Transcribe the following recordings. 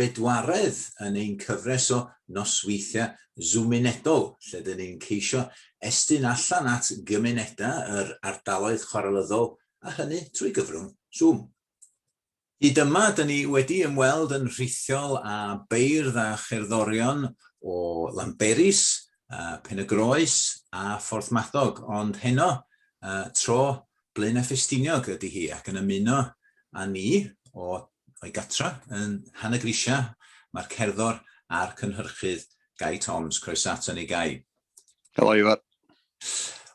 bedwaredd yn ein cyfres o nosweithiau Zoomunedol lle dŷn ni'n ceisio estyn allan at gymunedau yr ardaloedd chwarelyddol a hynny trwy gyfrwng Zoom. Hyd yma dŷn ni wedi ymweld yn rhithiol â beirdd a cherddorion o Lanberis, Pen-y-groes a Phorthmadog ond heno tro Blaenau Ffestiniog ydy hi ac yn ymuno â ni o o'i gatra yn Nhanygrisia mae'r cerddor a'r cynhyrchydd Gai Toms. Croeso ato ni Gai. Helo Ifor.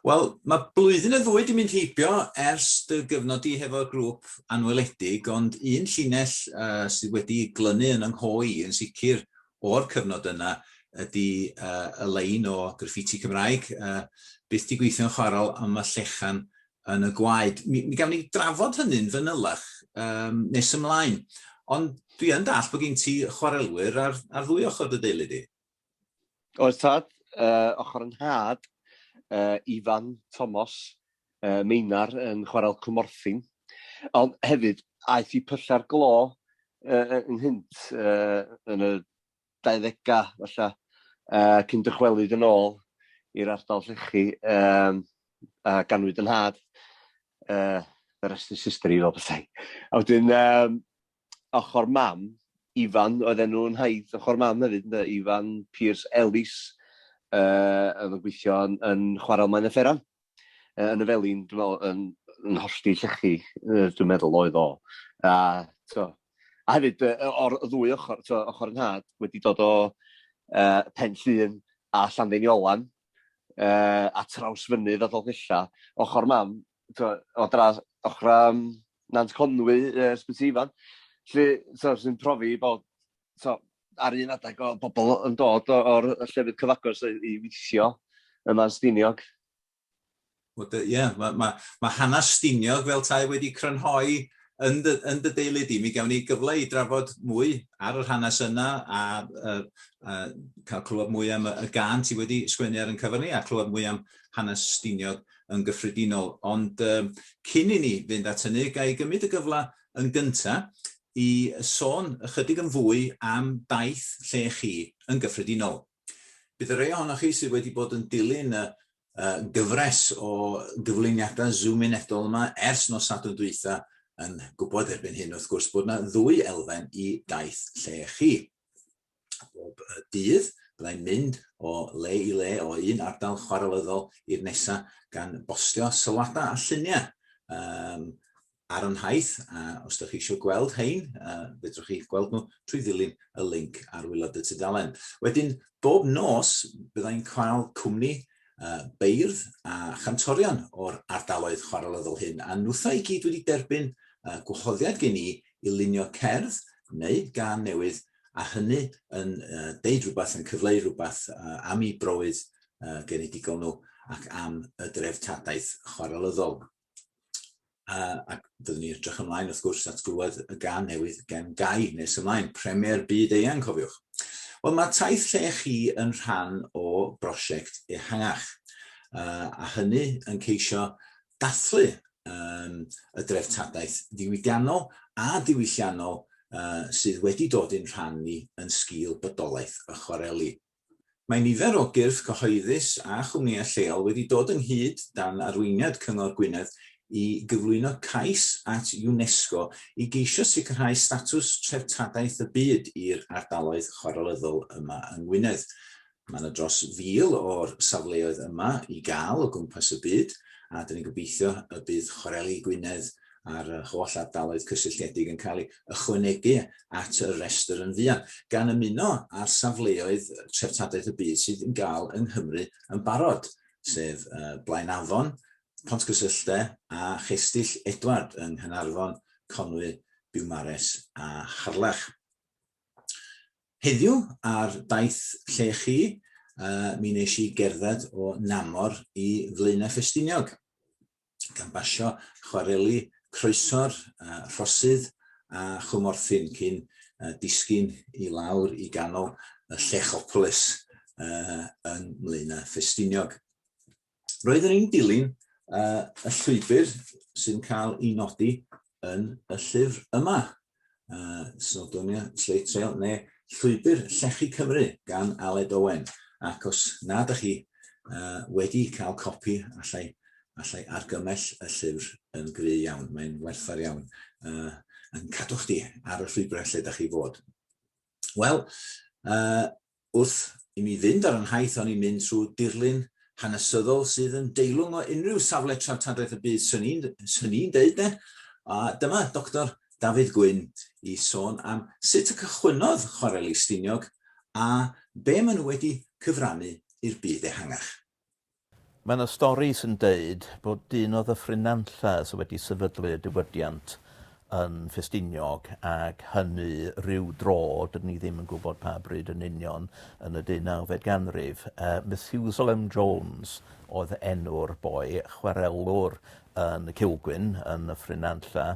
Wel, mae blwyddyn y ddwy di mynd heibio ers dy gyfnod di hefo'r grŵp anweledig, ond un llinell uh, sydd wedi glynu yn yng ngho i yn sicr o'r cyfnod yna ydy y lein o graffiti Cymraeg, byth 'di gweithio'n chwarel am y llechan yn y gwaed. Mi, mi gawn ni drafod hynny'n fanylach um, nes ymlaen. Ond dwi yn dall bod gen ti chwarelwyr ar, ar ddwy ochr dy deulu di. Oes tad, uh, ochr yn had, uh, Ifan Tomos, yy Meinar yn chwarel Cwmorthin, ond hefyd aeth i Pyllau Glo yy ynghynt yy yn y dauddega falla yy cyn dychwelyd yn ôl i'r ardal llechi yym a ganwyd yn nhad yy the rest is history fel petai. A wedyn yym ochr mam, Ifan oedd enw yn nhaith ochr mam hefyd ynde, Ifan Pearce Ellis, yy oedd yn gweithio yn yn chwarel Maen y Fferan, yy yn y Felin dwi'n meddwl yn yn hollti llechi yy dwi'n meddwl oedd o. A t'mo', a hefyd yy yy o'r y ddwy ochr t'mo' ochr 'yn nhad wedi dod o yy Pen Llŷn a Llanddeiniolen yy a Trawsfynydd a Dolgellau, ochr mam o dras ochrau um, Nant Conwy, uh, Sbyty Ifan, lle so, sy'n profi bod so, ar un adeg o bobl yn dod o'r llefydd cyfagos i weithio yma'n Stiniog. Ie, yeah, mae ma, ma hanes Stiniog fel tai wedi crynhoi yn dy, yn dy deulu di. Mi gawn ni gyfle i drafod mwy ar yr hanes yna a, a, a cael clywed mwy am y, y gan ti wedi sgwennu ar yn cyfer ni a clywed mwy am hanes Stiniog. yn gyffredinol, ond cyn i ni fynd at hynny, ga i gymryd y gyfle yn gynta' i sôn ychydig yn fwy am daith lle chi yn gyffredinol. Bydd y rhei ohonoch chi sydd wedi bod yn dilyn y gyfres o gyflwyniadau zoominedol yma ers nos Sadwrn dwytha yn gwybod erbyn hyn wrth gwrs bod yna ddwy elfen i daith lle chi. bob dydd. Byddai'n mynd o le i le, o un ardal chwarelyddol i'r nesaf, gan bostio sylwadau a lluniau um, ar y nhaith, a os ydych chi eisiau gweld hein, uh, fedrwch chi gweld nhw trwy ddilyn y link ar wylod y tudalen. Wedyn, bob nos, byddai'n cael cwmni uh, beirdd a chantorion o'r ardaloedd chwarelyddol hyn, a nhwtha i gyd wedi derbyn uh, gwahoddiad gen i i lunio cerdd neu gan newydd a hynny yn deud rhywbeth, yn cyfleu rhywbeth am i browydd genedigol nhw ac am y dreftadaeth chwarelyddol. Ac byddwn ni'n edrych ymlaen, wrth gwrs, at glywed y gan newydd gen Gai nes ymlaen, Premier Byd Eang, cofiwch. Wel, mae taith lle chi yn rhan o brosiect ehangach, a hynny yn ceisio dathlu um, y dreftadaeth ddiwydiannol a diwylliannol uh, sydd wedi dod i'n rhan ni yn sgil bydolaeth y chwareli. Mae nifer o gyrff cyhoeddus a chwmnïau lleol wedi dod ynghyd dan arweiniad Cyngor Gwynedd i gyflwyno cais at UNESCO i geisio sicrhau statws treftadaeth y byd i'r ardaloedd chwarelyddol yma yng Ngwynedd. Mae yna dros fil o'r safleoedd yma i gael o gwmpas y byd, a dyn ni'n gobeithio y bydd Chwareli Gwynedd a'r holl ardaloedd cysylltiedig yn cael ei ychwanegu at y rhestr yn fuan, gan ymuno â'r safleoedd treftadaeth y byd sydd yn gael yng Nghymru yn barod, sef Blaen Afon, Pontgysylltau a Chestyll Edward yng Nghaernarfon, Conwy, Biwmares a Harlech. Heddiw ar daith lle chi, mi wnes i gerdded o Namor i Flaenau Ffestiniog, gan basio chwareli Croeso'r Rhosydd a Chwmorthin cyn disgyn i lawr i ganol y Llechopolis yng Mlaenau Ffestiniog. Roeddwn i'n dilyn uh, y llwybr sy'n cael ei nodi yn y llyfr yma, uh, Snowdonia Slate Trail, neu Llwybr Llechi Cymru gan Aled Owen. Ac os nad ydych chi uh, wedi cael copi, allai, allai argymell y llyfr yn gry iawn. Mae'n werthfawr iawn uh, yn cadw chdi ar y llwybrau lle ydych chi fod. Wel, uh, Wrth i mi fynd ar 'y nhaith hon i mynd trwy dirlun hanesyddol sydd yn deilwng o unrhyw safle treftadaeth y byd, 'swn i'n 'swn i'n deud 'de, a dyma Doctor Dafydd Gwyn i sôn am sut y cychwynnodd Chwareli Stiniog a be' ma' nhw wedi cyfrannu i'r byd ehangach. Mae 'na stori sy'n deud bod dyn o Ddyffryn-nantlla sy wedi sefydlu y diwydiant yn Ffestiniog ac hynny ryw dro, dydyn ni ddim yn gwybod pa bryd yn union, yn y deunawfed ganrif. Yy Methusalem Jones oedd enw'r boi, chwarelwr yn Cilgwyn yn Nyffryn Nantlle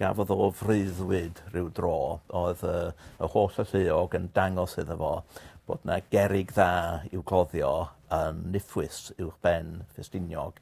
gafodd o freuddwyd ryw dro o'dd yy y holl y lleog yn dangos iddo fo bod 'na gerrig dda i'w cloddio yn niffwys uwch ben Ffestiniog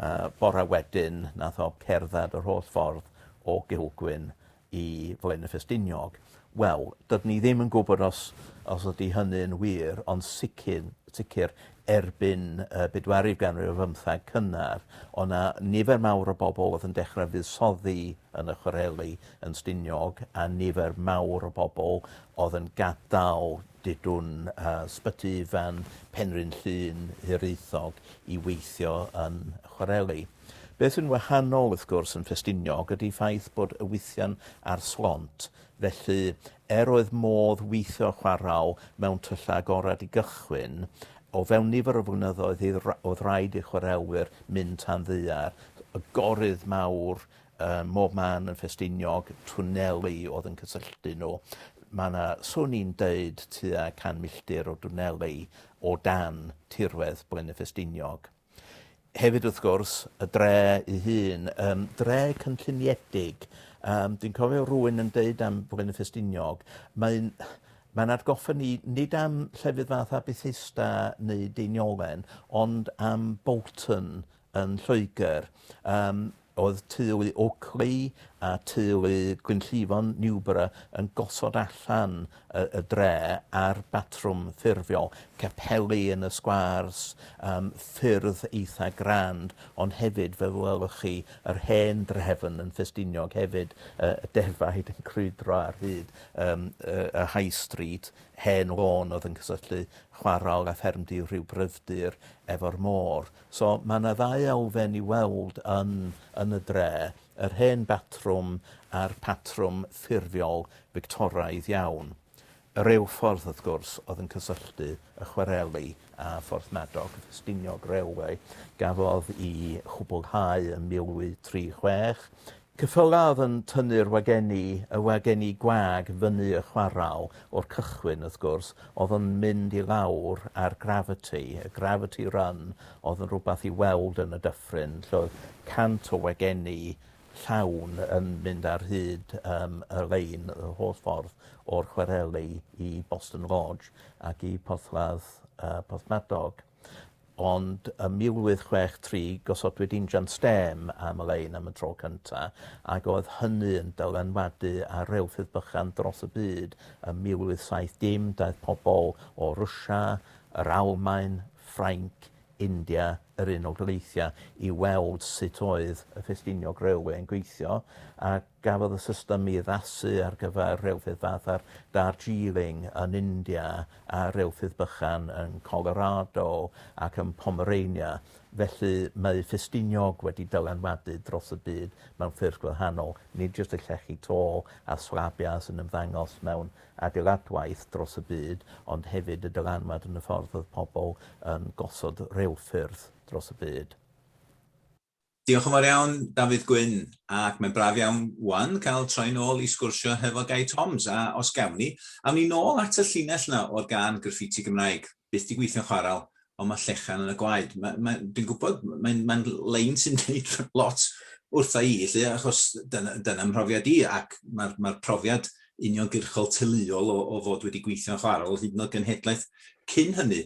yy bora wedyn nath o cerddad yr holl ffordd o Gilgwyn i Flaenau Ffestiniog, wel, dydyn ni ddim yn gwybod os, os ydy hynny'n wir, ond sicr, sicr erbyn y bedwarif ganrif o fymtheg cynnar, o na nifer mawr o bobl oedd yn dechrau fuddsoddi yn y chwareli yn Stiniog a nifer mawr o bobl oedd yn gadael didwn uh, sbyty fan Penrhyn Llun hiraethog i weithio yn chwareli. Beth sy'n wahanol, wrth gwrs, yn Ffestiniog ydy ffaith bod y wythian ar slont, felly, er oedd modd weithio a chwarae mewn tyllau agored i gychwyn, o fewn nifer o flynyddoedd hyd oedd rhaid i'r chwaraewyr mynd tan ddaear, y gorydd mawr ym mhob man yn Ffestiniog, twneli oedd yn cysylltu nhw. Mae yna, swn i'n deud, tua 100 milltir o dwneli o dan tirwedd Blaenau Ffestiniog. Hefyd wrth gwrs, y dre ei hun, um, dre cynlluniedig. Um, dwi'n cofio rwy'n yn deud am Bwlen y Ffestiniog, mae'n mae'n atgoffa ni nid am llefydd fath a Bethesda neu Deiniolen, ond am Bolton yn Lloegr. Um, Oedd teulu Oakley a teulu Gwynllifon Newborough yn gosod allan y y dre ar batrwm ffurfiol, capeli yn y sgwârs, yym ffyrdd eitha' grand, ond hefyd fel y welwch chi yr hen drefn yn Ffestiniog hefyd, y y defaid yn crwydro ar hyd yym y y High Street, hen lôn oedd yn cysylltu chwarel a ffermdy rhyw gryfdir efo'r môr. So, mae yna ddau elfen i weld yn, yn y dre, yr hen batrwm a'r patrwm ffurfiol Fictoraidd iawn. Y rheilffordd, wrth gwrs, oedd yn cysylltu y chwareli â Phorthmadog, y Ffestiniog Railway, gafodd i chwblhau yn 1836, Cyffollaf yn tynnu'r wagenni, y wagenni gwag fyny y chwarel, o'r cychwyn, wrth gwrs, o'dd yn mynd i lawr a'r gravity, y gravity run, o'dd yn rwbath i weld yn y dyffryn, lle oedd cant o wagenni llawn yn mynd ar hyd yym y lein y holl ffordd o'r chwareli i Boston Lodge ac i Porthladd yy Porthmadog. ond ym 1863 gosodwyd injan stêm am y lein am y tro cynta ac oedd hynny yn dylanwadu ar reilffyrdd bychan dros y byd. Ym 1870 daeth pobl o Rwsia, yr Almaen, Ffrainc, India, yr Unol Daleithiau i weld sut oedd y Ffestiniog Railway yn gweithio a Gafodd y system ei addasu ar gyfer rheilffyrdd fatha'r Darjeeling yn India a rheilffyrdd bychan yn Colorado ac yn Pomerania, felly mae Ffestiniog wedi dylanwadu dros y byd mewn ffyrdd gwahanol, nid jyst y llechi to a slabiau sy'n ymddangos mewn adeiladwaith dros y byd, ond hefyd y dylanwad yn y ffordd oedd pobl yn gosod rheilffyrdd dros y byd. Diolch yn fawr iawn, Dafydd Gwyn, ac mae'n braf iawn 'wan cael troi nôl i sgwrsio hefo Gai Toms, a os gawn ni, awn ni nôl at y llinell 'na o'r gân Graffiti Gymraeg, byth 'di gweithio'n chwaral, ond ma' llechan yn y gwaed. Ma- ma', dwi'n gwybod, mae'n mae'n lein sy'n deud lot wrtha i, 'lly, achos dyna dyna mhrofiad i, ac ma'r ma'r profiad uniongyrchol teuluol o o fod wedi gweithio'n chwaral, hyd yn o'd genhedlaeth cyn hynny.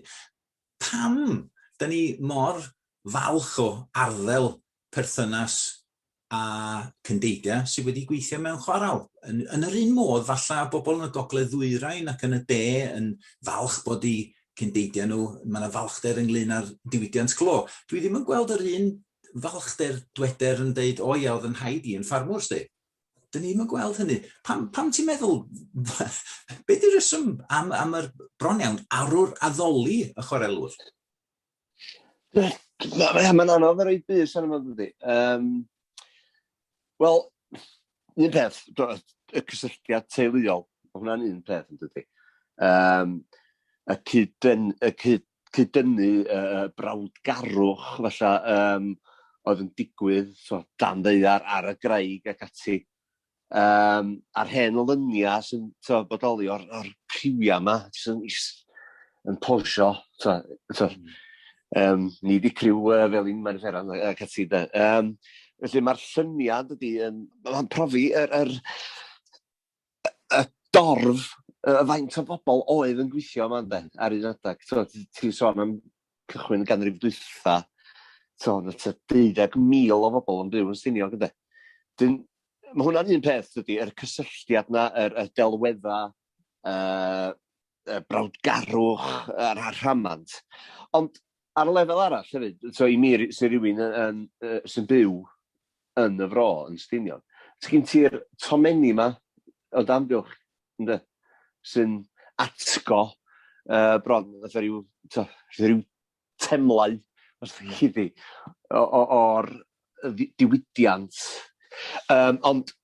pam da ni mor falch o arddel perthynas a cyndeidia sydd wedi gweithio mewn chwaral. Yn, yn yr un modd, falle bobl yn y gogledd ddwyrain ac yn y de yn falch bod i cyndeidia nhw, mae yna falchder ynglyn â'r diwydiant clo. Dwi ddim yn gweld yr un falchder dweder yn dweud, o ia, oedd yn rhaid i yn ffarmwrs di. Dyn ni'n gweld hynny. Pam, pam ti'n meddwl, be di reswm am, am yr bron iawn arwr addoli y chwarelwr? Mae'n ma anodd ar ei bus arno fo, dydy. Um, Wel, un peth, y cysylltiad teuluol, mae hwnna'n un peth, yn dydy. Um, y cyd-destun cyd-dynnu y brawdgarwch falle um, oedd yn digwydd so, dan ddeiar ar y graig ac ati. Um, a'r hen olyniau sy'n so, bodoli o'r, or rhywiau yma, sy'n yn posio. So, so, um, ni di criw uh, fel un mae'n fferan ac ati. Um, felly mae'r llyniad ydy, um, mae'n profi yr, er, er, y dorf, y faint o bobl oedd yn gweithio yma ynde, ar un adeg. Tibod, ti'n sôn am cychwyn y ganrif dwytha, tibod, y 12,000 o bobl yn byw yn Stiniog ynde. Dyn, mae hwnna'n un peth, dydy, yr cysylltiad na, yr, y delweddau, uh, y brawdgarwch a'r rhamant. Ond Ar y lefel arall hefyd, so i mi sy'n rhywun yn, uh, sy'n byw yn y fro, yn Stinion, ti'n gyn ti'r tomenni yma o damgylch, ynddo, sy'n atgo uh, bron, fatha rhyw, to, rhyw temlau, os ti'n chi di, o'r diwydiant. Um, ond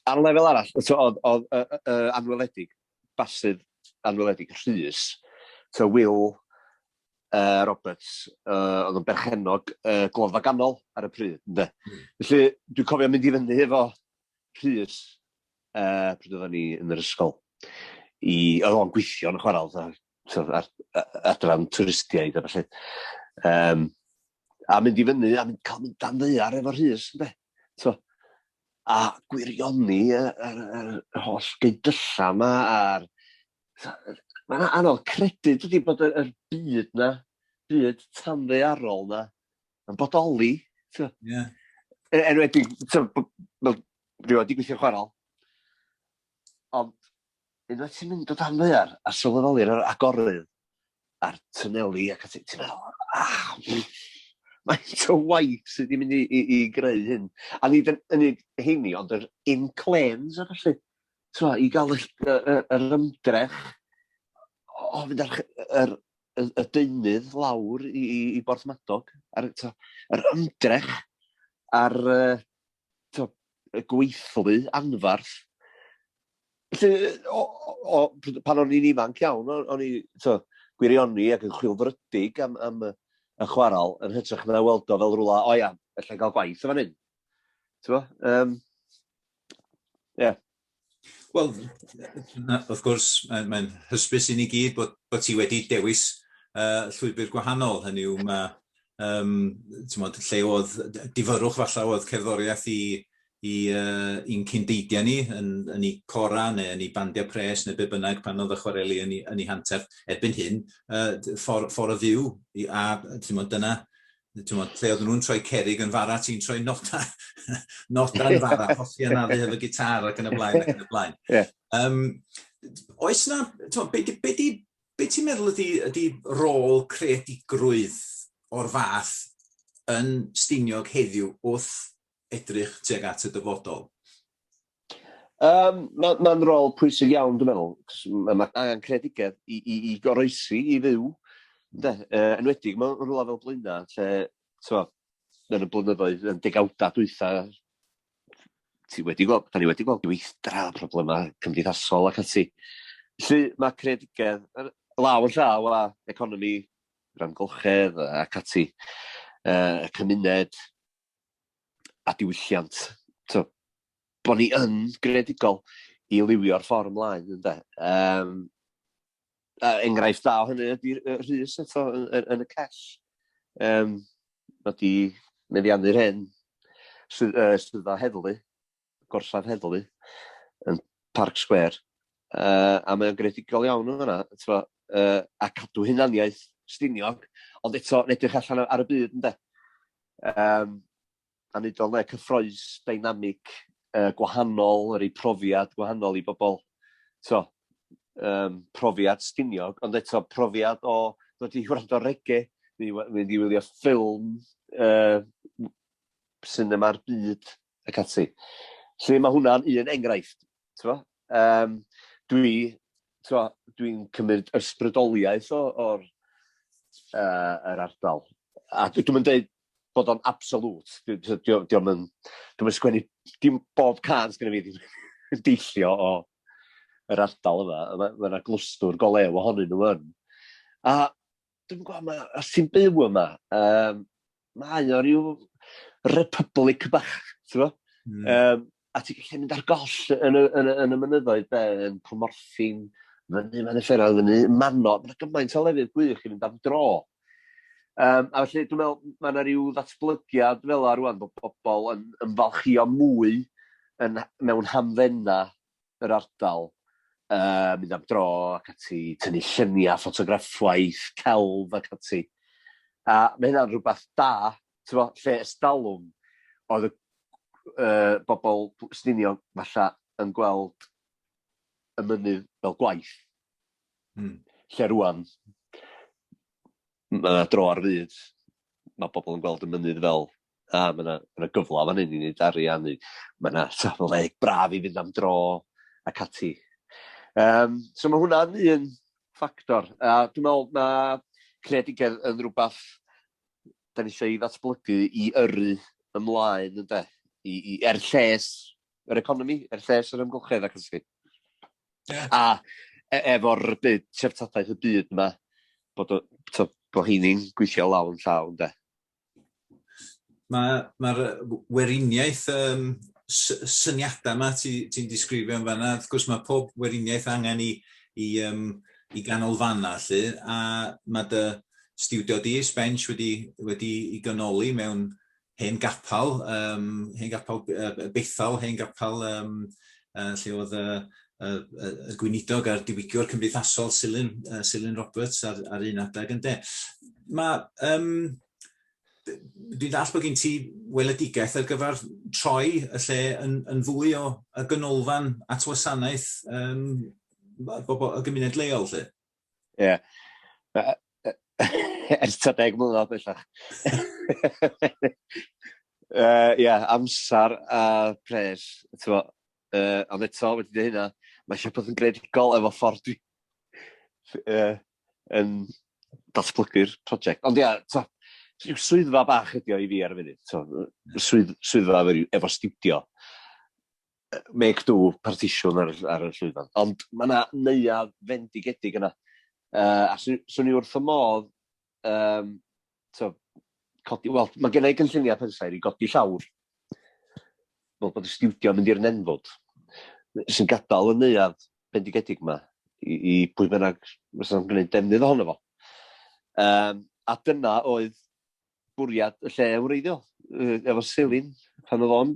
ar lefel arall, oedd, oedd uh, uh, anweledig, basydd anweledig, rhys, to Will uh, Roberts, uh, oedd yn berchenog uh, glofa ganol ar y pryd. Ynde? Mm. Felly, dwi'n cofio mynd i fyny efo rhys uh, pryd oedden ni yn yr ysgol. I, oedd o'n gweithio yn y chwarae, oedd ar, adran twristiaid a felly. Um, a mynd i fyny, a mynd cael mynd dan ddear efo rhys, ynde? So, a gwirioni y, y, y, y holl gydyllau yma a'r... Mae'n anodd credu dydy bod y, y byd na, byd tanddearol na, yn bodoli. So. Yeah. Er, er wedi, so, rwy'n wedi gweithio chwarael, ond Unwaith ti'n mynd o dan ddaear a sylweddoli'r yr agorydd a'r twneli ac ati, ti'n meddwl, ah, faint o waith sydd wedi mynd i, i, i greu hyn. A nid yn unig heini, ond yr inclêns a felly, twa, i gael yr, yr, yr ymdrech o fynd ar yr, y, y deunydd lawr i, i, i Borthmadog, a'r, yr ymdrech a'r, t'o', y gweithlu anfarth. Felly, o, o, pan o'n i'n ifanc iawn, o'n i, t'o', gwirioni ac yn chwilfrydig am, am y, y chwarael, yn hytrach na weld o fel rhywle, o ia, allai gael gwaith o fan hyn. T'o'? Um, yeah. Wel, wrth gwrs, mae'n mae hysbys i ni gyd bod, bod ti wedi dewis uh, llwybr gwahanol. Hynny yw, mae, um, mod, lle oedd difyrwch falle oedd cerddoriaeth i, i, uh, i'n cyndeidiau ni, yn, yn ei cora neu yn ei bandiau pres neu be bynnag pan oedd y chwareli yn ei, yn ei hanterth. Erbyn hyn, uh, ffordd, ffordd y fyw, a mod, dyna Tymod, lle oedden nhw'n troi cerig yn fara, ti'n troi noda, noda yn fara, hosi anafu hefo gitar ac yn y blaen ac yn y blaen. Yeah. Um, oes na, tymod, be, be, be, be ti'n meddwl ydy, ydy rôl creadigrwydd o'r fath yn Stiniog heddiw wrth edrych tuag at y dyfodol? Yym, ma- ma'n rôl pwysig iawn dwi'n meddwl, 'c'os ma' ma' angen creadigedd i i i goroesi, i fyw, ynde? Yy, enwedig mewn rwla fel Blaena' lle, t'mo', yn y blynyddoedd, yn degawda dwytha, ti wedi gweld, 'dan ni wedi gweld gweithdra, problema cymdeithasol ac ati. Felly, ma' creadigedd yn law yn llaw â economi, yr amgylchedd a ac ati, yy y cymuned, a diwylliant, to, bo ni yn gredigol i liwio'r ffordd ymlaen, ynde. Um, a enghraifft da o hynny ydy'r rhys eto yn, yn, yn y cell. Um, mae di meddiannu'r hyn sydd, uh, sydd o heddlu gorsaf heddlu yn Parc Sgwêr, uh, a mae'n gredigol iawn yn yna, tro, uh, a cadw hunaniaeth stiniog, ond eto yn edrych allan ar y byd, ynddo. Um, a wneud o'n le cyffroes, dynamic, uh, gwahanol, yr ei profiad gwahanol i bobl, tro, um, profiad stiniog, ond eto profiad o ddod i wrando rege, mynd i wylio ffilm, uh, cinema'r byd, ac ati. Felly mae hwnna'n un enghraifft. Um, dwi, dwi'n cymryd ysbrydoliaeth o'r uh, yr ardal. A dwi'n mynd dweud bod o'n absolut. Dwi'n mynd sgwennu, dim bob can sgwennu fi, dwi'n deillio o yr ardal yma. Mae yna glwstwr golew ohonyn nhw yn. A Dwi'n gwybod, mae, os ti'n byw yma, um, mae o rhyw republic bach, ti'n gwybod? Mm. Um, a ti'n gallu mynd ar goll yn y, yn y, yn y mynyddoedd, be, yn Cwmorffin, fyny, mae'n efferoedd, fyny, manno, mae'n gymaint o lefydd gwych i fynd am dro. Um, a felly, dwi'n meddwl, mae yna rhyw ddatblygiad fel yna rwan bod pobl yn ymfalchio mwy yn, mewn hamfenna yr ardal, yy mynd am dro ac ati, tynnu lluniau, ffotograffwaith, celf ac ati. A mae hynna'n rhywbeth da, ti'n lle ystalwm oedd y uh, bobl Stinio falle yn gweld y mynydd fel gwaith. Mm. Lle rwan, mae dro ar fyd, mae bobl yn gweld y mynydd fel A, mae yna, mae yna gyfle fan hyn i wneud arian, neu mae yna safle braf i fynd am dro ac ati. Um, so mae hwnna'n un ffactor. A dwi'n meddwl na creadigedd yn rhywbeth da ni eisiau ei ddatblygu i yrru ymlaen, ynddo, i, i, er lles yr economi, er lles yr ymgylchedd ac ysgrif. Yeah. A e, efo'r byd, treftadaeth y byd yma, bod, bod bod heini'n gweithio law yn llaw, ynddo. Mae'r ma weriniaeth um, syniadau yma ti'n ti disgrifio yn fanna, wrth gwrs mae pob weriniaeth angen i, i, um, i ganolfanna lle, a mae dy stiwdio di, Sbench, wedi, wedi i ganoli mewn hen gapel, um, hen gapel uh, bethal, hen gapel um, yy lle o'dd y y y y gweinidog a'r diwygwr cymdeithasol Silyn yy Silyn Roberts ar ar un adag ynde? Ma' yym d- dwi'n dall' bo' gin ti weledigaeth ar gyfar troi y lle yn yn fwy o y ganolfan at wasanaeth yym ma' bobol y gymuned leol 'lly. Ie. Yeah. Ers ta deg mlynedd bellach. uh, yeah, amser a uh, pres. Tewa, uh, ond eto wedi dweud hynna, mae eisiau bod yn gredigol efo ffordd dwi uh, yn datblygu'r prosiect. Ond ia, yeah, rhyw swyddfa bach ydi o i fi ar y funud. So, swydd, swyddfa efo, efo studio. make do partisiwn ar, ar y llwyfan. Ond mae yna neuad fendigedig yna. Uh, a swn i wrth y modd, um, so, codi, wel, mae gen i gynlluniau pensaer i godi llawr. Fel bod y studio mynd i'r nenfod. Sy'n gadael y neuad bendigedig yma i, i pwy bynnag fysa'n gwneud defnydd ohono fo. Um, a dyna oedd bwriad y lle wreiddiol, efo Selin, pan oedd o'n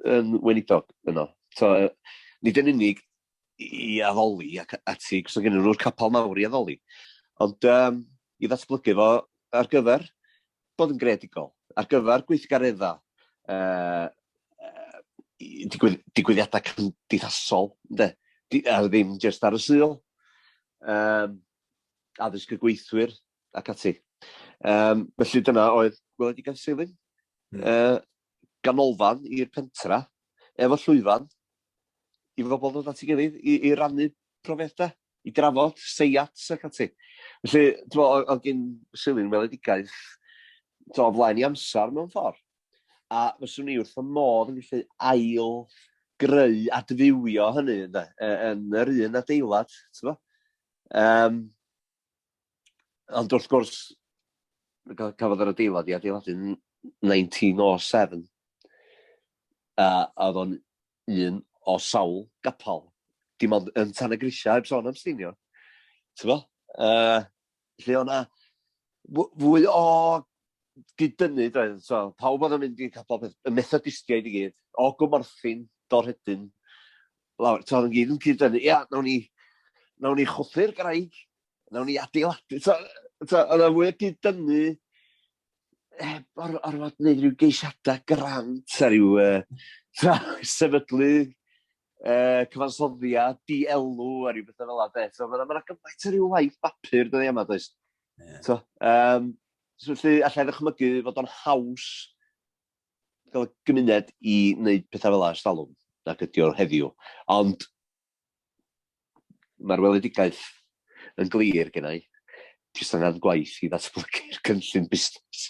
yn weinidog yno. So, nid yn unig i addoli ac ati, cos oedd gen nhw'r capel mawr i addoli, ond um, i ddatblygu fo ar gyfer bod yn greadigol, ar gyfer gweithgareddau uh, digwydd, digwyddiadau cymdeithasol, de, a ddim jyst ar y syl. Um, addysg y gweithwyr, ac ati. Um, felly dyna oedd gweledigaeth Seilin. Mm. Uh, ganolfan i'r pentra, efo llwyfan, i fobl ddod at ei gilydd i, i rannu profiadau, i drafod, seiats ac ati. Felly, dwi'n meddwl, oedd gen Seilin weledigaeth o flaen i amser mewn ffordd. A fyswn ni wrth y modd yn gallu ail greu adfywio hynny yna, yn yr un adeilad. Um, Ond wrth gwrs, cafodd yr adeilad i adeiladu yn 1907, a oedd o'n un o sawl gapel, dim ond yn Tan y Grisiau, heb sôn am Stiniog, tibod? Yy, lle oedd 'na fwy o gyd-dynnu, doedd, so pawb oedd yn mynd i capel, y Methodistiaid i gyd, o Gwmorthin, Dorhedyn, lawr, to, yn gyd yn cyd dynnu, ia, nawn ni, nawn ni chwthu'r graig, nawn ni adeiladu, to, to, oedd o'n fwy o gyd dynnu, heb or, orfod gwneud rhyw geisiadau grant a rhyw uh, to, sefydlu uh, cyfansoddiad, dielw a rhyw bethau fel yna. So, mae'n ma gymaint o rhyw waith bapur dyddi yma, does? Yeah. So, um, so, felly, allai ddychmygu fod o'n haws fel gymuned i wneud pethau fel 'na ers talwm nag ydi o heddiw, ond mae'r weledigaeth yn glir genna i, jyst angen gwaith i ddatblygu'r cynllun busnes.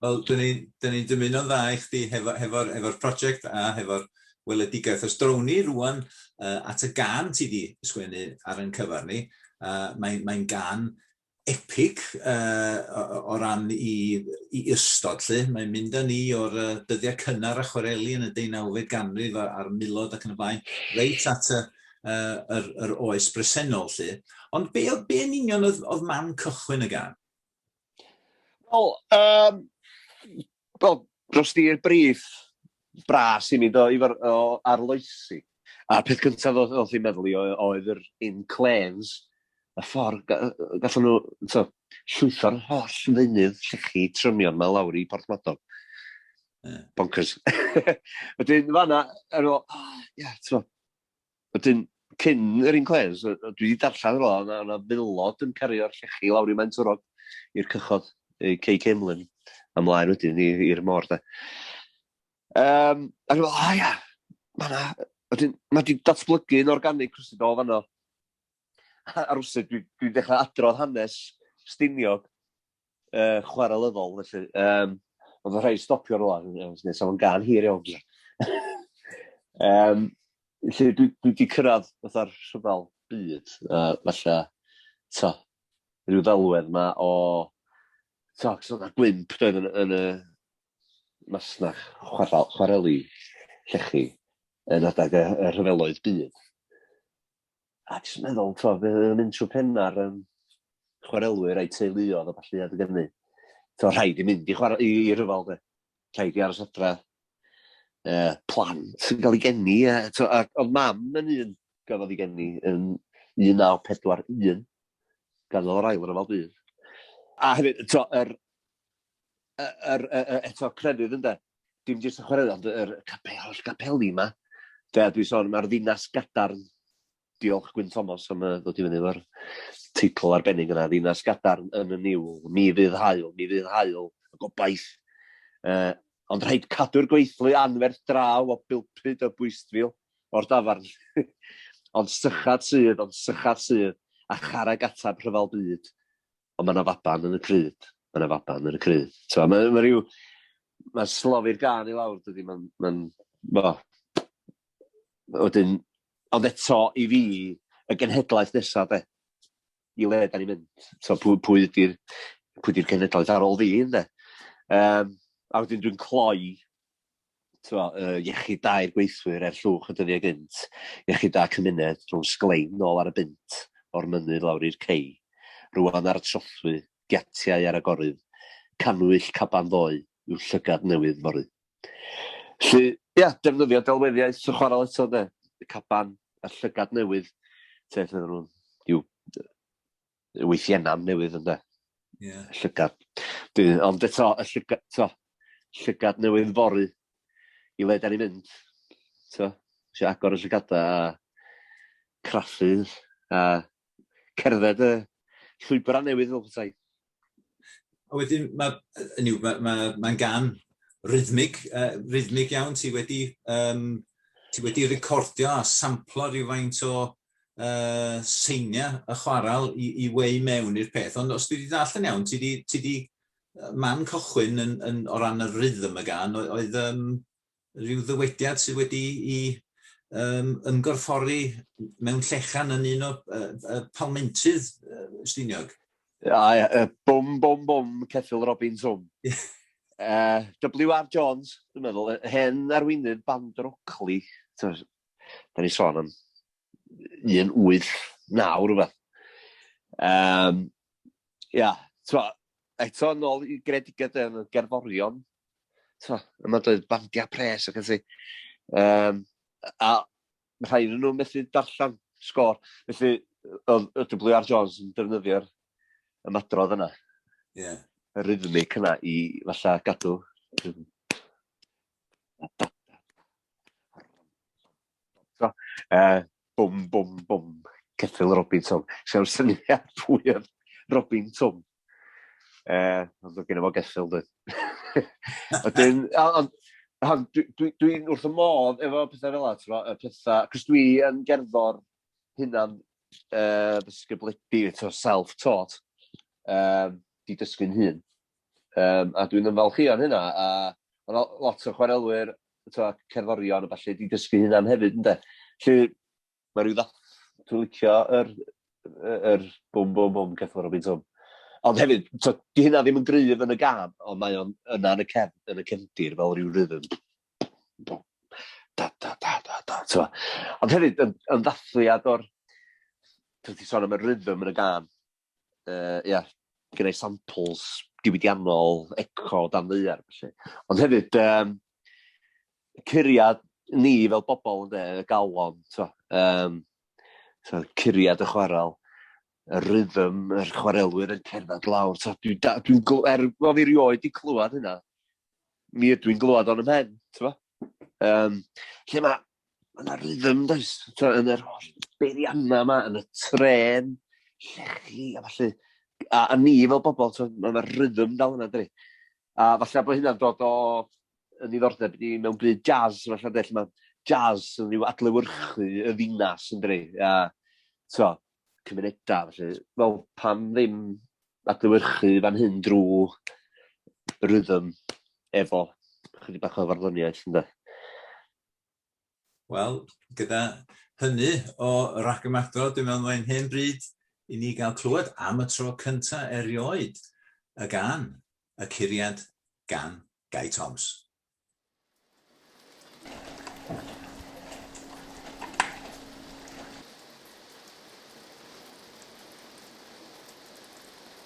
Wel, dyn ni'n dyn ni dymuno'n dda i chdi hefo'r hefo, hefo prosiect a hefo'r weledigaeth. Os drown ni rwan uh, at y gan ti di sgwennu ar yn cyfer ni, uh, mae'n mae gan epig o ran i ystod 'lly. Mae'n mynd â ni o'r dyddiau cynnar a chwareli yn y deunawfed ganrif a'r milod ac yn y blaen, reit at y yr yr oes bresennol 'lly. Ond be' o'dd be' yn union oedd oedd man cychwyn y gân? Wel yym Wel, dros dir brith bras i mi do i fod o arloesi. A'r peth cyntaf oedd oedd hi'n meddwl i oedd yr inclêns, y ffordd ga- yy gallan nhw t'o' llwytho'r holl ddeunydd llechi trymion 'ma lawr i Porthmadog. Ie. Bonkers. Wedyn fan'na o'n i'n me'wl, o ie t'mo', Wedyn, cyn yr inclês, dwi wedi darllen fel yna, oedd yna filod yn cario'r llechi lawr i Maentwrog, i'r cychod, i Cei Ceimlyn, a mlaen wedyn i'r môr, de. Um, a dwi'n meddwl, o ia, mae yna... Wedyn, mae wedi datblygu yn organig rhywsut o fanno. A rhywsut, dwi'n dwi dechrau adrodd hanes Stiniog uh, chwarelyddol, felly. Um, oedd y rhai stopio rwan, nes nes o'n gan hir iawn. um, felly, dwi, dwi wedi cyrraedd fatha'r rhyfel byd, uh, falle, to, rhyw ddelwedd yma o, to, cos o'na gwymp doedd yn, yn y masnach chwarel, chwareli llechi yn adag y, y rhyfeloedd byd. a jyst yn meddwl, twa, fe oedd yn mynd trwy penna'r um, chwarelwyr a'i teuluodd o falle adeg ynnu. So, rhaid i mynd i, chwarae, i, i ryfel, de. Rhaid i aros adra. E, plant yn cael ei geni. E, to, a, ond mam yn un gafodd ei geni yn 1941. Gafodd o'r ail ryfel byd. A hefyd, to, yr, yr, eto, crefydd ynde. Dim jyst y chwaraeon, ond yr capel, holl gapeli yma. Be a dwi'n sôn, mae'r ddinas gadarn. Diolch Gwyn Thomas am uh, ddod i fyny efo'r teitl arbennig yna. Ddinas gadarn yn y niwl, mi fydd hael, mi fydd hael, y gobaith. Uh, ond rhaid cadw'r gweithlu anferth draw o bilpyd y bwystfil o'r dafarn. ond sychad sydd, ond sychad sydd, a charag atab rhyfel byd. ond mae yna faban yn y cryd, mae yna faban yn y cryd. So, mae, mae rhyw, mae slofi'r gan i lawr, dydy, mae'n, mae'n, ma, wedyn, ond eto i fi, y genhedlaeth nesaf, de, i le da ni'n mynd, so, pwy, pwy ydy'r pwy di'r genhedlaeth ar ôl fi, de. Um, a wedyn dwi'n cloi twa, uh, iechyd da i'r gweithwyr er llwch y dyddiau gynt, iechyd da cymuned rhwng sglein nôl ar y bunt o'r mynydd lawr i'r cei, rwan ar y trothwy, giatiau ar y gorydd, canwyll caban ddoe yw llygad newydd fory. Lly, ia, defnyddio delweddiaeth y chwarael eto, de, y caban a'r llygad newydd, te, lle nhw'n, yw, weithienna'n newydd ynde. Yeah. Llygad. Dwi, ond eto, y llygad, to, llygad newydd fory i le da ni'n mynd. To, si agor y llygadau a craffu a cerdded y llwybrau newydd fel petai. A wedyn, mae, yn yw, mae'n ma, ma gan rhythmig, uh, rhythmig iawn, ti wedi, um, ti wedi recordio a samplo rhywfaint o uh, seinia y chwaral i, i wei mewn i'r peth. Ond os dwi wedi dall yn iawn, ti di, ti di man cychwyn yn, yn, o ran y rhythm y gan, oedd um, rhyw ddywediad sydd wedi i um, ymgorffori mewn llechan yn un o uh, uh, palmentydd uh, Stiniog. A, uh, bum, bum, bum, Ceffil Robin Swm. uh, WR Jones, dwi'n meddwl, hen arweinydd band rocli, Da ni sôn am 1, 8, 9 rhywbeth. Um, ia, twa, eto yn ôl i gredigedd yn y gerddorion, twa, yma doedd bandiau pres ac ati. Um, a rhai yn nhw methu darllen sgôr. Felly, oedd y WR Jones yn defnyddio'r ymadrodd yna. Ie. Yeah. Y rhythmic yna i falle gadw So, uh, bwm, bwm, bwm, ceffil Robin Tom. Sew'r syniad pwy oedd Robin Tom. Uh, ond oedd gen i fo geffil, dwi. Wedyn, ond dwi'n dwi, dwi wrth y modd efo pethau fel at, pethau, cos dwi yn gerddor hynna'n uh, ddysgybledu, self-taught, um, di dysgu'n hun. Um, a dwi'n ymfalchio yn hynna, a mae yna lot o chwarelwyr, cerddorion a falle, di dysgu hynna'n hefyd, ynddo. Lle mae rhyw ddath, dwi'n licio yr, yr bwm bwm bwm ceffwr o bintwm. Ond hefyd, to, di hynna ddim yn gryf yn y gan, ond mae o'n yna yn y, cef, yn y cefndir fel rhyw rhythm. Da, da, da, da, da, to. Ond hefyd, yn, yn ddathliad o'r... Dwi'n ti sôn am y rhythm yn y gan. uh, ia, gyda'i samples diwydiannol, eco, dan ddeiar, felly. Ond hefyd, um, curiad ni fel bobl yn dweud, y galon, so, um, so, curiad y chwarel, y rhythm, yr chwarelwyr yn cerdded lawr. So, dwi'n dwi, dwi, dwi, er, o fi rioed di clywed hynna, mi ydw i'n glywed o'n ymhen, ti'n Um, lle mae Mae yna rhythm, does? Tibod, yn yr holl beiriannau yma, yn y tren, llechi a falle. A, a ni fel bobl, tibod, mae yna rhythm dal yna, dwi. A falle bod hynna'n dod o yn ddiddordeb ni mewn byd jazz, falle, lle mae jazz yn rhyw adlewyrchu y ddinas, yn dwi. A, so, cymunedau, felly, wel, pam ddim adlewyrchu fan hyn drwy rhythm efo chydig bach o farddoniaeth, ynddo? Wel, gyda hynny o ragymadrodd, dwi'n meddwl mae'n hen bryd i ni gael clywed am y tro cynta erioed y gan, y curiad gan Gai Toms.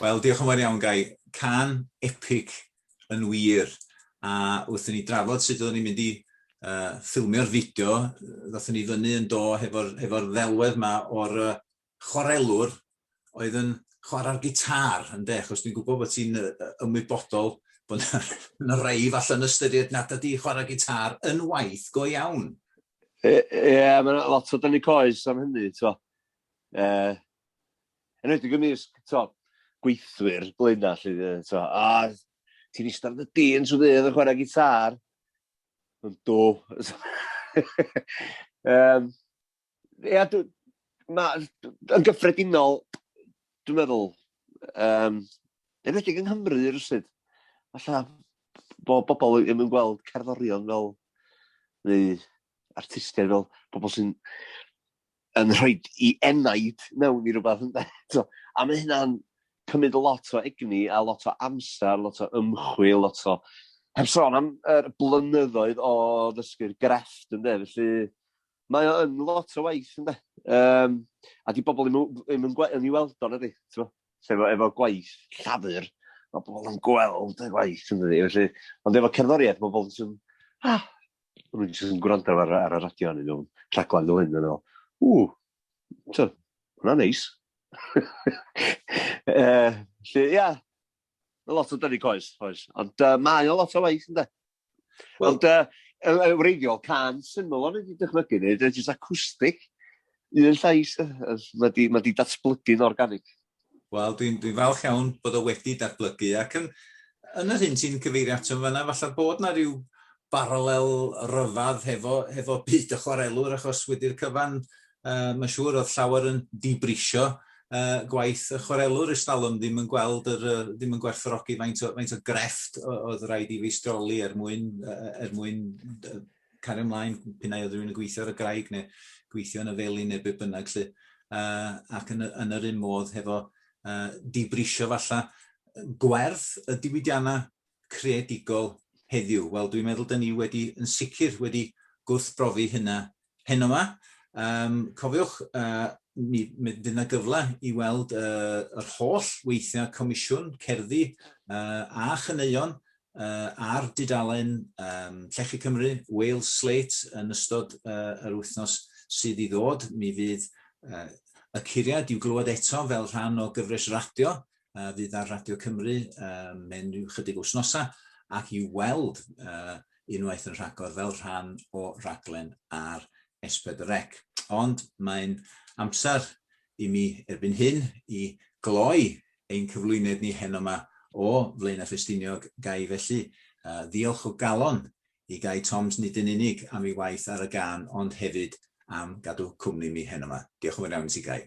Wel, diolch yn fawr iawn, Gai. Cân epic yn wir. A wrth i ni drafod sut oeddwn ni'n mynd i uh, ffilmio'r fideo, ddothon ni fyny yn do hefo'r hefo ddelwedd yma o'r uh, chwarelwr oedd yn chwarae'r gitar, ynde, achos dwi'n gwybod bod ti'n ymwybodol bod yna rei falle'n ystyried nad ydi chwarae gitar yn waith go iawn. Ie, yeah, mae'n lot o dynnu coes am hynny, ti'n E, Yn enwedig ymysg, t'o', gweithwyr Blaenau 'lly, yy, t'o', a ti'n ista ar dy dîn trwy ddydd yn chwarae gitâr? Ond do. Yym, ia, dw- ma', yn gyffredinol, dwi'n meddwl, yym, yn enwedig yng Nghymru rywsut, falla bod bobl ddim yn gweld cerddorion fel, neu artistiaid fel pobl sy'n yn rhoi i enaid mewn i rywbeth ynde? So, a mae hynna'n cymryd lot o egni a lot o amser, lot o ymchwil, lot o... Heb sôn am yr blynyddoedd o ddysgu'r grefft ynde, felly mae o yn lot o waith ynde. Um, a di bobl ddim yn gweld, yn ei weld o'n ydy, efo, efo gwaith llafur, mae bobl yn gweld y gwaith ynde, felly, ond efo cerddoriaeth mae bobl yn ah, o'n i'n jyst yn gwrando ar, ar y radio yn un rhaglen fel hyn, yn ôl, ww, so, hwnna'n neis. uh, lle, ia, mae lot o dynu coes, oes. Ond uh, mae o lot o waith, ynddo. Well, Ond uh, y wreiddiol, can syml o'n wedi dychmygu ni, dyna jyst acoustic, un llais, mae di, ma di datblygu'n organig. Wel, dwi'n dwi falch iawn bod o wedi datblygu ac yn, yn yr hyn ti'n cyfeirio ato yn fanna, falle bod yna rhyw baralel ryfedd hefo, hefo byd y chwarelwr achos wedi'r cyfan uh, mae'n siŵr oedd llawer yn dibrisio uh, gwaith y chwarelwr ys talwm ddim yn gweld yr, uh, ddim yn gwerthorogi faint o, faint o grefft oedd rhaid i feistroli er mwyn, uh, er mwyn uh, cario mlaen p'un ai oedd rhywun yn gweithio ar y graig neu gweithio yn y felin neu be' bynnag 'lly yy ac yn y yn yr un modd hefo yy dibrisio falla gwerth y diwydianna creadigol heddiw. Wel dwi'n meddwl 'dyn ni wedi yn sicr wedi gwrthbrofi hynna heno 'ma. Yym cofiwch yy mi mi fydd 'na gyfle i weld yy yr holl weithiau comisiwn cerddi yy a chaneuon uh, ar dudalen um, Llechi Cymru, Wales Slate, yn ystod uh, yr wythnos sydd i ddod. Mi fydd uh, y curiad i'w glywed eto fel rhan o gyfres radio uh, fydd ar Radio Cymru uh, mewn rhyw chydig wythnosau ac i'w weld uh, unwaith yn rhagor fel rhan o raglen ar Esbyd Rec. Ond mae'n amser i mi erbyn hyn i gloi ein cyflwyned ni heno 'ma o Flaenau Ffestiniog, ga i felly ddiolch o galon i Gai Toms nid yn unig am ei waith ar y gân ond hefyd am gadw cwmni mi heno 'ma. Diolch yn fawr iawn i ti Gai.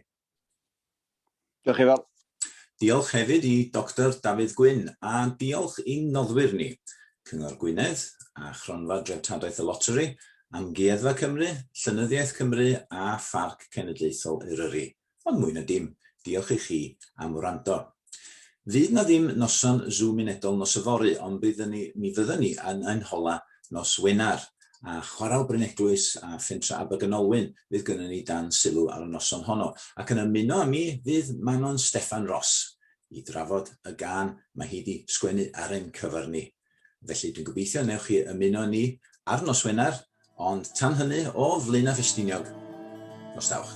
Diolch Ifor. Diolch hefyd i Doctor Dafydd Gwyn a diolch i'n noddwyr ni, Cyngor Gwynedd a Chronfa Dreftadaeth y Loteri, Amgueddfa Cymru, Llenyddiaeth Cymru a Pharc Cenedlaethol Eryri. ond mwy na dim, diolch i chi am wrando. Fydd na ddim noson Zoom unedol nos yfory, ond byddwn ni, mi fyddwn ni yn ein hola nos Wener, a Chwarel Bryneglwys a Phentre Abergynolwyn fydd gynnon ni dan sylw ar y noson honno, ac yn ymuno â mi fydd Manon Steffan Ros i drafod y gân mae hi 'di sgwennu ar ein cyfer ni. Felly, dwi'n gobeithio newch chi ymuno ni ar nos Wener, ond tan hynny, o Flaenau Ffestiniog, nos Dawch.